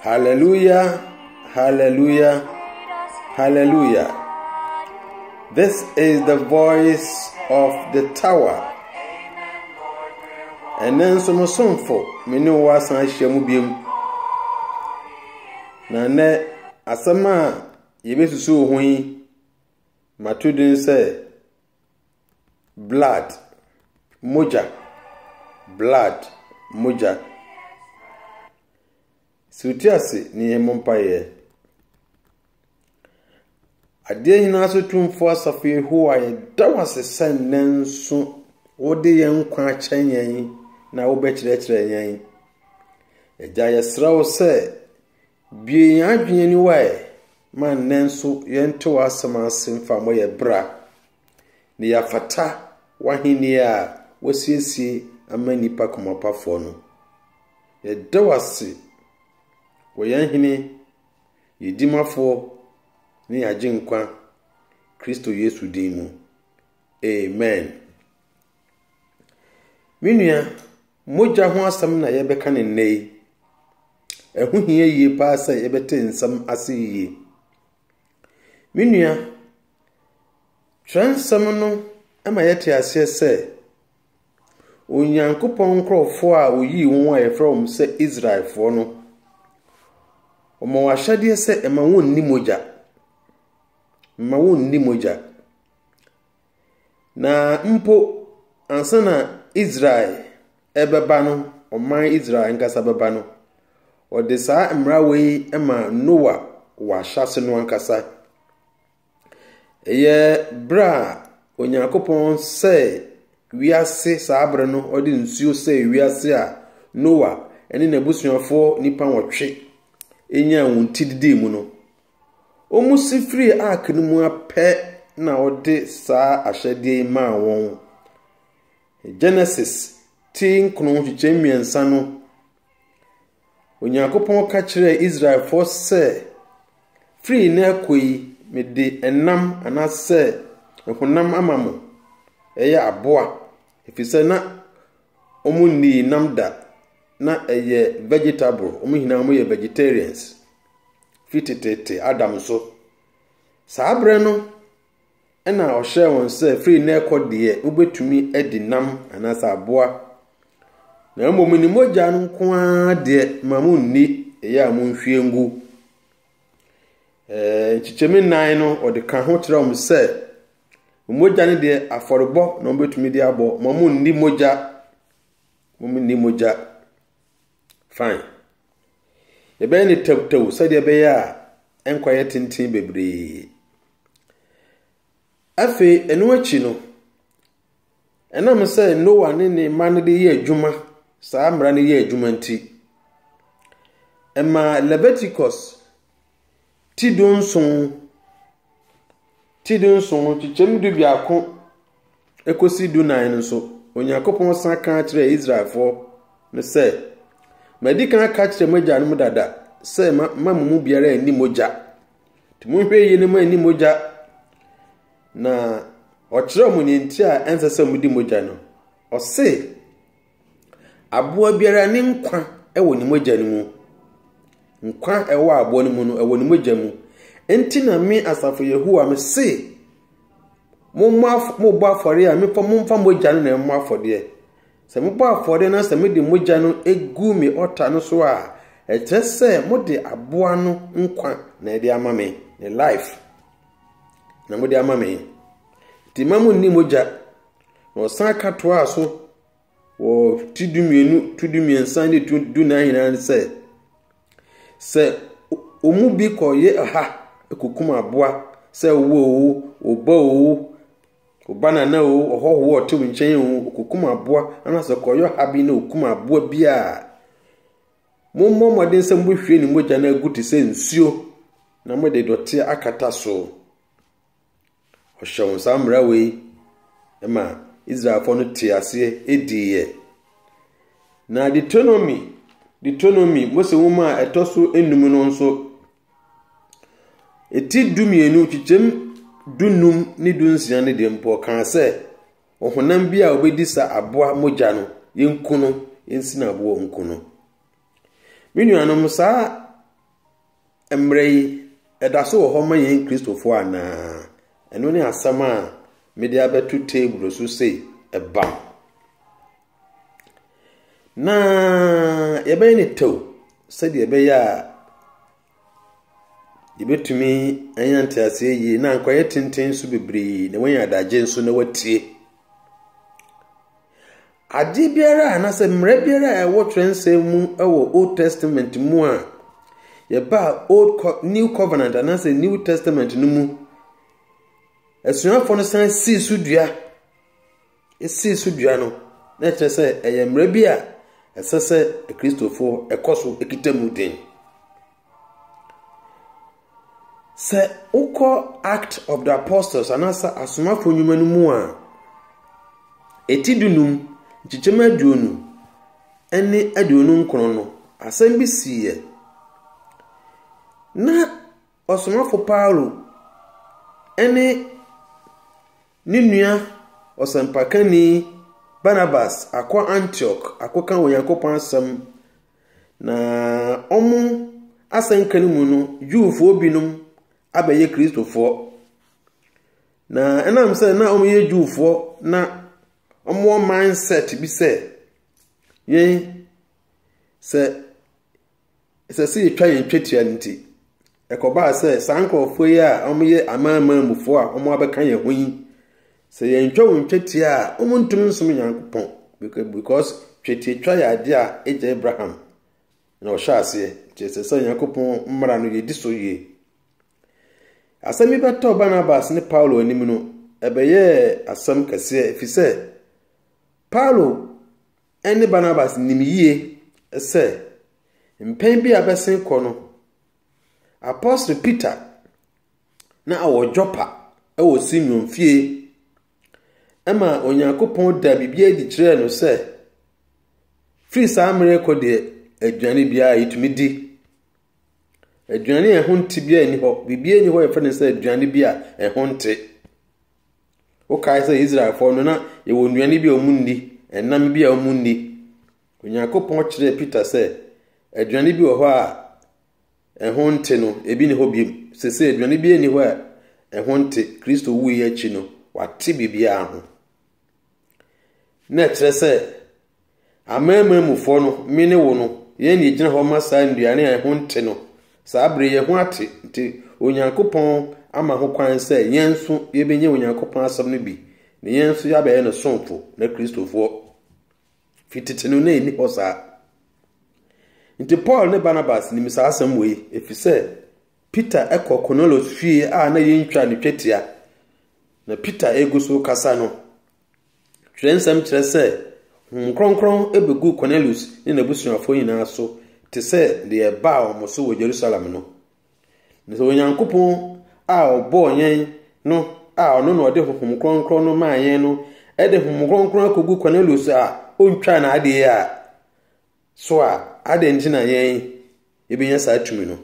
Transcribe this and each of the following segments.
Hallelujah, hallelujah, hallelujah. This is the voice of the tower. And then some sonfo, me ne wo asan ahyia mu biom. Na nnɛ asɛm a yɛbɛsusu ho yi Mato din sɛ Blood, Mogya, Blood, Mogya. Sɛ wote ase ne yɛn mmɔ mpaeɛ. Adeɛ nyinaa so tumfoɔ asafo Yehowa yɛda wo ase sɛ nnɛ nso wode yɛn nkwa akyɛ yɛn na wobɛkyerɛkyerɛ yɛn. Agya yɛsrɛ wo sɛ Bue yɛn adwene aniwa ɛ, ma nnɛ nso yɛnte w'asɛm ase mfa mmɔ yɛn bra, na yɛafata w'ahenni a woasiesie ama nnipa komapafoɔ no. Yɛda wo ase wɔ yɛn Hene, yɛn Dimafoɔ, ne yɛn Agyenkwa, Kristo Yesu din mu. Amen. Me nua, mogya ho asɛm na yɛrebɛka no nnɛ yi. Ɛho hia yie paa sɛ yɛbɛte nsɛm ase yie. Me nua, twerɛnsɛm no ma yɛte aseɛ sɛ Onyankopɔn nkurɔfoɔ a ɔyii wɔn a yɛfrɛ wɔn sɛ Israelfoɔ no, wɔn ahyɛdeɛ sɛ ɛma wɔnni mogya. Mma wɔnni mogya. Na mpo ansa na Israel bɛba no, ɔman Israel ankasa bɛba no, ɔde saa mmara wei ma Noa wɔ ahyɛase no ankasa. Ɛyɛ berɛ a Onyankopɔn sɛe wiase saa berɛ no, ɔde nsuo sɛe wiase a Noa ne n'abusuafoɔ nnipa nwɔtwe nyaa wɔn ti didii mu no. Wɔsi firii ark no mu ara pɛ na ɔde saa ahyɛdeɛ yi maa wɔn. Genesis ti nkron nkyekyɛm mmiɛnsa no, Onyankopɔn ka kyerɛɛ Israelfoɔ sɛ, Firi nnɛ rekɔ yi, mede ɛnam anaasɛ honam ama mo. Ɛyɛ aboa, ɛfiri sɛ na wɔnnii nam da. Na ɛyɛ vegetable, wɔn nyinaa wɔyɛ vegetarians. fi teteete Adam so. Saa berɛ no na ɔhyɛɛ wɔn sɛ firi na ɛkɔ deɛ wobɛtumi adi nam anaasɛ aboa, na mmom ne mogya no nko ara deɛ ma mo nni ɛyɛ a mo nhwie ngu. Nkyekyɛmi nnan no ɔde ka ho kyerɛ wɔn sɛ mogya no deɛ afɔrebɔ na wɔbɛtumi de abɔ, ma mo nni mogya, mo nni mogya. Fine. Yɛbɛyɛ no tawtaw sɛdeɛ ɛbɛyɛ a ɛnkɔyɛ tenten bebree. Afei, ɛno akyi no, ɛnam sɛ Noa ne ne mma no de yɛ adwuma, saa mmara no yɛ adwuma nti, ɛmaa Leviticus Ti dunson, ti dunson, nkyekyɛ mu dubiako kɔsi dunan no so, Onyankopɔn san ka kyerɛɛ Israelfoɔ no sɛ, Madi kan aka akyerɛ mo agyanom dada sɛ mma mo mu biara nni mogya. Nti monhwɛ yie na moanni mogya. Na ɔkyerɛɛ mo nea nti a ɛnsɛ sɛ modi mogya no. Ɔse, Aboa biara ne nkwa wɔ ne mogya no mu. Nkwa a ɛwɔ aboa no mu no, ɛwɔ ne mogya mu. Enti na me asafo Yehowa mese, mommɔ af mobɔ afɔre a mefa momfa mogya no na ɛmmɔ afɔdeɛ. Sɛ mobɔ afɔre na sɛ mode mogya no gu me ɔta no so a, ɛkyerɛ sɛ mode aboa no nkwa na ɛde ama me, ne life na mode ama me. Nti mma monni mogya Na ɔsan ka toaa so wɔ ti dumienu, tu dumiɛnsa ne tu dunan nyinaa no sɛ, sɛ wɔn mu bi kɔyɛ ɔha kokum aboa sɛ wo o, wo ba o, wo ba nana o, ɔhɔho a ɔte wo nkyɛn o, ɔkokum aboa anaasɛ ɔkɔyɛ ɔha bi na ɔkum aboa bi a, mommɔ mmɔden sɛ mobɛhwie ne mogya no agu te sɛ nsuo na mode dɔteɛ akata so. Ɔhyɛ wɔn saa mmara wei ma Israelfoɔ no te aseɛ diiɛ. Na Deuteronomy, Deuteronomy, Mose nwoma a ɛtɔ so enum no nso, eti du mmienu, kyekyɛm du num ne du nsia no deɛ mpo ɔkaa sɛ, ɔhonam bi a ɔbɛdi sa aboa mogya no, yɛnku no, yɛnsina aboɔ nku no. Me nuanom, saa Mmerɛ yi, ɛda so wɔ hɔ ma yɛn Kristofoɔ anaa? Ɛno ne asɛm a mede abɛto table so sei, ɛbam. Na yɛbɛyɛ ne tɛw sɛdeɛ ɛbɛyɛ a yɛbɛtumi anya nteaseɛ yie na anka ɔyɛ tenten nso bebree na wɔanya adagye nso na wɔatie. Adeɛ biara anaasɛ mmara biara a ɛwɔ twerɛnsɛm mu wɔ Old Testament mu a yɛbaa Old Co New Covenant anaasɛ New Testament no mu, asuafoɔ no san sii so dua. Ɛsii so dua no, na ɛkyerɛ sɛ ɛyɛ mmara bi a ɛsɛ sɛ Kristofoɔ ɛkɔ so kita mu den. Sɛ wokɔ Act of the Apostles anaasɛ Asomafo Nnwuma no mu a, eti dunum, nkyekyɛm aduonu ne aduonu nkron no, asɛm bi siiɛ. Na ɔsomafo Paulo ne ne nua ɔsɛmpakani Barnabas akɔ Antioch akɔka Onyankopɔn asɛm Na wɔn asɛnka no mu no, Jewfoɔ binom abɛyɛ Kristofoɔ. Na ɛnam sɛ na wɔyɛ Jewfoɔ na wɔwɔ mindset bi sɛ yɛn sɛ ɛsɛ sɛ yɛtwa yɛn twetia no nti, Ɛkɔbaa sɛ saa nkurɔfoɔ yi a wɔyɛ amanaman mufoɔ a wɔabɛka yɛn ho yi, sɛ yɛntwa wɔn twetia a, wɔntumi nsom Nyankopɔn. Because twetiatwa yɛ adeɛ a agya Abraham na ɔhyɛ aseɛ, nti ɛsɛ sɛ Nyankopɔn mmara no yɛdi so yie. Asɛm yi bɛtɔɔ Barnabas ne Paulo anim no, ɛbɛyɛɛ asɛm kɛseɛ, ɛfiri sɛ Paulo ne Barnabas nim yie sɛ mpɛn bi a bɛsen kɔ no, Apostle Peter na ɔwɔ Joppa wɔ Simeon fie ma Onyankopɔn da biribi adi kyerɛɛ no sɛ firi saa mmerɛ kɔ deɛ aduane biara yɛtumi di. Aduane a ɛho nte biara nni hɔ. Biribiara nni hɔ yɛfrɛ no sɛ aduane bi a ɛho nte. Wokae sɛ Israelfoɔ no na yɛwɔ nnuane bi a wɔnni, ɛnam bi a wɔnni. Onyankopɔn kyerɛɛ Peter sɛ aduane bi wɔ hɔ a ɛho nte no, ebi ne hɔ biom. Sese aduane bi nni hɔ a ɛho nte. Kristo wui akyi no, wate biribiara ho. Na ɛkyerɛ sɛ amanaman mufoɔ no, me ne wo no, yɛn ne gyina hɔ ma saa nnuane a ɛho nte no. Saa bere yɛn ho ate nti Onyankopɔn ama ho kwan sɛ yɛn nso yɛbɛnya Onyankopɔn asɛm no bi na yɛn nso yɛabɛyɛ no somfo na Kristofoɔ. Fi tete no na enni hɔ saa. Enti Paul ne Barnabas nim saa asɛm wei, efisɛ Peter kɔ Kornelius fie a na yentwaa ne twetia, na Peter regu so rekasa no. Twerɛnsɛm kyerɛ sɛ Honhom Kronkron bɛguu Kornelius ne n'abusuafoɔ nyinaa so te sɛ deɛ ɛbaa wɔn so wɔ Yerusalem no. Na sɛ Onyankopɔn a ɔbɔɔ yɛn no a ɔno na ɔde honhom kronkron no maa yɛn no de honhom kronkron akogu Cornelius a ontwaa n'adeɛ a so a adɛn nti na yɛn yɛbɛnya saa tumi no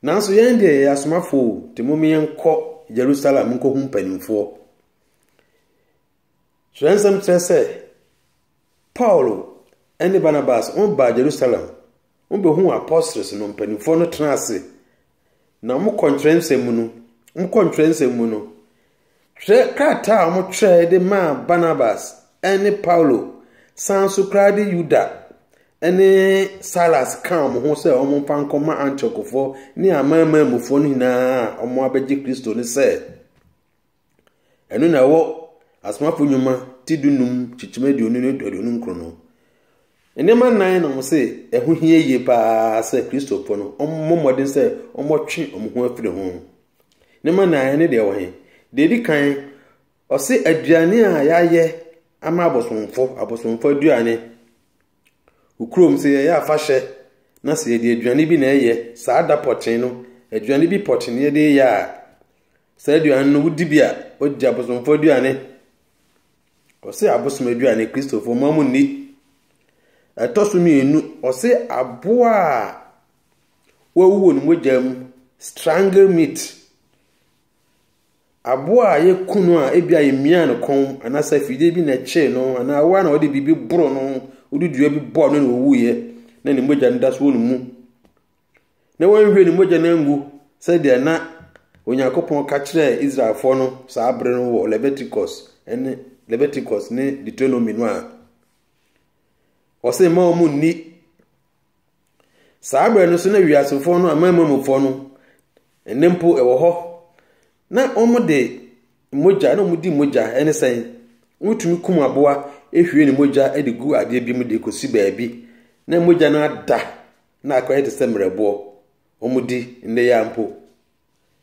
nanso yɛn deɛ yɛyɛ asomafoɔ nti mom yɛnkɔ Jerusalem nkɔhu mpanimfoɔ kyerɛ nsɛm kyerɛ sɛ Paulo ne Barnabas wɔn baa Jerusalem, wɔn bɛ hu apostles no mpanyinfoɔ no tena ase, na wɔn kɔ ntwerɛnsɛm mu no, wɔn kɔ ntwerɛnsɛm mu no, twerɛ krataa a wɔn twerɛ de maa Barnabas ne Paulo, san so koraa de Yuda ne Silas kaa wɔn ho sɛ wɔn mfa nkɔ ma Antiochfoɔ ne amanmanmufoɔ no nyinaa a wɔn abɛgye Kristo no sɛ. Ɛno na ɛwɔ Asomafo Nnwuma ti dunum kyekyem aduonu ne aduonu nkron no. Nneɛma nnan na wɔn se ɛho hia yie paa sɛ Kristofo no wɔmmɔ mmɔden sɛ wɔtwe wɔn ho afiri ho. Nneɛma nnan ne deɛ ɛwɔ he? Deɛ edi kan, ɔse aduane a yɛayɛ ama abosomfo, abosomfo aduane. Okurom sɛ yɛyɛ afahyɛ na sɛ yɛde aduane bi na ɛyɛ saa da pɔtee no, aduane bi pɔtee na yɛde yɛ a, saa aduane no wodi bi a wodi abosomfoɔ aduane ɔse abosom aduane kristofoɔ ma mo nni ɛtɔ so mmienu ɔse aboa a wɔawu wɔ ne mogya mu strangle meat aboa a yɛku no a ebi a yɛmia no kɔn anaasɛ afidie bi na ɛkyee no anaa woa na wɔde biribi boro no wode dua bi bɔɔ no na ɔwuiɛ na ne mogya no da so wɔ ne mu na wɔanhwie ne mogya no angu sɛdeɛ na Onyankopɔn ka kyerɛɛ Israelfoɔ no saa bere no wɔ Leviticus ne Leviticus ne Deuteronomy no a ɔse mma wɔn nni saa bere no so na wiasefoɔ no amammufoɔ no ɛne mpo ɛwɔ hɔ na wɔde mogya na wɔdi mogya ɛne sɛn wɔtumi kum aboa ehwie ne mogya de gu adeɛ bi mu de kɔsi baabi na mogya no ada na akora yɛ te sɛ mmerɛboɔ, wɔdi nnɛ yi ara mpo.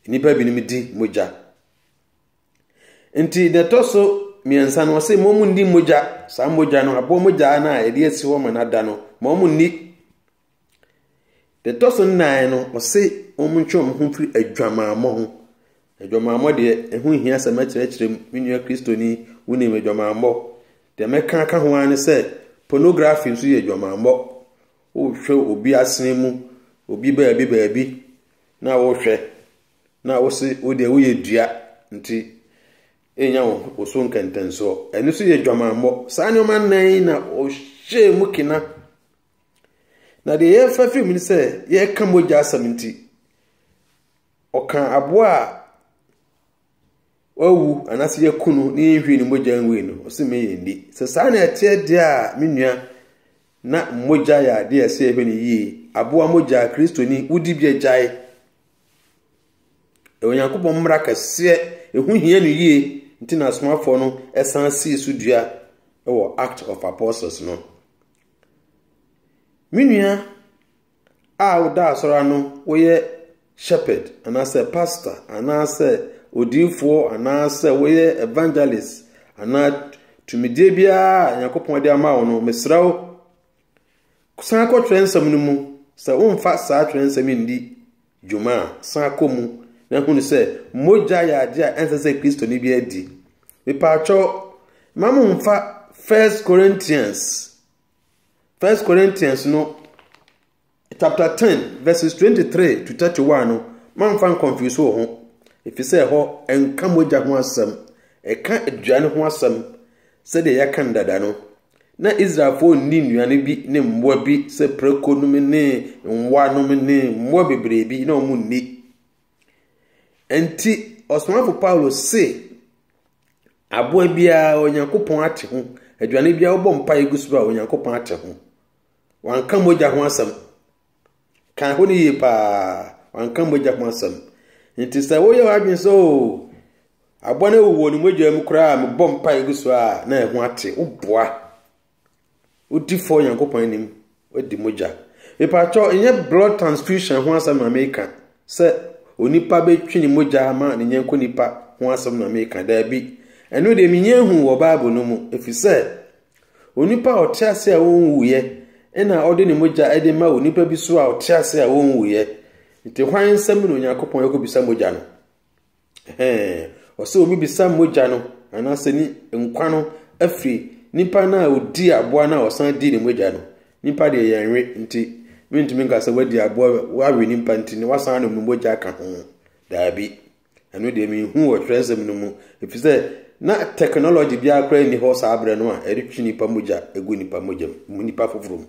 Nnipa binom di mogya. Nti deɛ ɛtɔ so mmiɛnsa no, ɔse ma wɔn nni mogya, saa mogya no, aboɔ mogya no a yɛde asi hɔ ma no ada no, ma wɔn nni. Deɛ ɛtɔ so nnan no, ɔse wɔn ntwe wɔn ho mfiri adwamammɔ ho. Adwamammɔ deɛ ɛho hia sɛ mɛkyerɛkyerɛ mu me nua kristoni wonim adwamammɔ deɛ mɛka aka ho ara ne sɛ pornography nso yɛ adwamammɔ Wohwɛ obi asene mu, obi baabi baabi na wohwɛ na wose wo deɛ woyɛ dua nti ɛnya wo so nkɛntɛnsoɔ. Ɛno nso yɛ dwamammɔ. Saa nneɛma nnan yi na ɔhyɛɛ mu kena. Na deɛ yɛrefa firi mu ne sɛ yɛreka mogya asɛm nti, ɔka aboa a Wawu, anaasɛ yɛaku no na yɛnhwie ne mogya ngui no, ɔse me yɛ nni. Sɛ saa na ɛteɛ deɛ a, me nua, na mogya yɛ adeɛ a ɛsɛ yɛhwɛ no yie. Aboa mogya, Kristoni, wodi bi agyae. Ɛyɛ Onyankopɔn mmara kɛseɛ, ɛho hia no yie, nti na asomafoɔ no san sii so dua wɔ Act of Apostles no. Me nua, a woda asɔre ano woyɛ shepherd anaasɛ pastor anaasɛ odiyifoɔ anaasɛ woyɛ evangelist anaa tumidie biara a nyankopɔn de ama wo no mesrɛ wo san kɔ twerɛ nsɛm no mu sɛ womfa saa twerɛ nsɛm yi ndi dwuma a san kɔ mu na hunu sɛ mogya yɛ adeɛ a ɛnsɛ sɛ kristoni bi adi mepaakyɛw ma momfa first corinthians First Corinthians no chapter ten verses twenty three to thirty one no mamfa nkɔnfuse wɔ ho efisɛ ɛhɔ ɛnka mogya ho asɛm ɛka aduane ho asɛm sɛdeɛ yɛaka no dada no na israelfoɔ nni nnuane bi ne mmoa bi sɛ prako nom ne mmoa nom ne mmoa bebree bi na wɔn nni ɛnti ɔsomafo paulo se Aboa biara, Onyankopɔn ate ho. Aduane biara wobɔ mpaeɛ gu so a, Onyankopɔn ate ho. Wanka mogya ho asɛm. Kan ho no yie paa. Wanka mogya ho asɛm. Nti sɛ woyɛ w'adwene sɛ o oh, aboa no awu wɔ ne mogya mu koraa a mebɔ mpaeɛ gu so a na ɛho ate. Woboa. Wodi fɔ Nyankopɔn anim, wadi mogya. Mepaatwɔ, ɛnyɛ blood transfusion ho asɛm na meka sɛ onipa bɛtwi ne mogya ma ne nyɛnko nipa ho asɛm na meka daabi. Ɛno deɛ menyɛ hu wɔ Bible no mu, ɛfiri sɛ onipa a ɔte ase a wɔnwuiɛ ɛna ɔde ne mogya ɛde ma onipa bi so a ɔte ase a wɔnwuiɛ. Nti hwan nsɛm na Onyankopɔn ɛkɔbisa mogya no? Ɛhɛɛ, ɔsɛ wɔbisa mogya no anaasɛ ne nkwa no afiri nipa no a ɔdii aboa no a ɔsan dii ne mogya no. Nipa deɛ yɛnwe nti mentumi nka sɛ wadi aboa wawe nipa nti na wasan anom ne mogya aka ho. Daabi. Ɛno deɛ menhu wɔ twerɛnsɛm no mu ɛfiri sɛ na technology biara koraa nni hɔ saa berɛ no a ɛde twe nipa mogya ɛgu nipa mogya mu nipa foforɔ mu.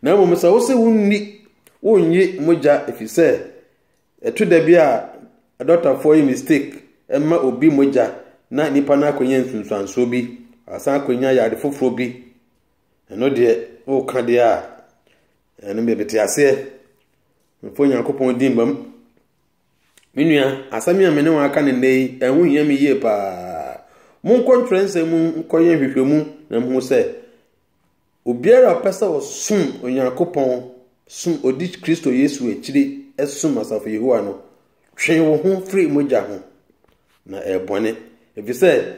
Na mmom sɛ wo sɛ wonni wonnye mogya ɛfiri sɛ Ɛto da bi a adɔktafoɔ yɛ mistake ma obi mogya na nipa no akɔnya nsunsuansoɔ bi, asan akɔnya yare foforɔ bi. Ɛno deɛ, woka deɛ a, ɛno deɛ mete aseɛ. Mfa Onyankopɔn din bam. Me nua, asɛm a me ne wɔn aka no nnɛ yi, ɛho hia me yie paa. Monkɔ ntwerɛnsɛm mu nkɔyɛ nhwehwɛmu na mohu sɛ Obiara a ɔpɛ sɛ ɔsom Onyankopɔn som, odi Kristo Yesu akyiri som asafo Yehowa no, twe wo ho firi mogya ho, na ɛyɛ bɔne. Efisɛ,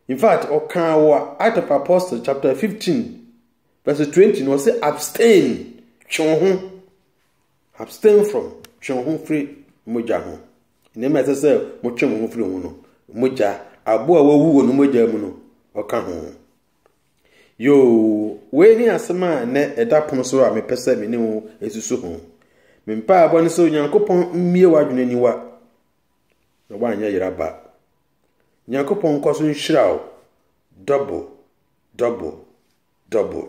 in fact, ɔkaa wɔ Act of Apostle chapter 15 verse 20 no, ɔse abstain, twe wo ho, abstain from, twe wo ho firi mogya ho. Nneɛma ɛsɛ sɛ motwe mo ho firi ho no, mogya, aboa a wawu wɔ no mogya mu no, ɔka ho. Yoo, wei ne asɛm a nnɛ ɛda pono so a mepɛ sɛ me ne wo susu ho. Me mpaebɔ ne sɛ Onyankopɔn mmue w'adwene niwa na woanyɛ yera ba. Nyankopɔn nkɔ so nhyira wo double, double, double.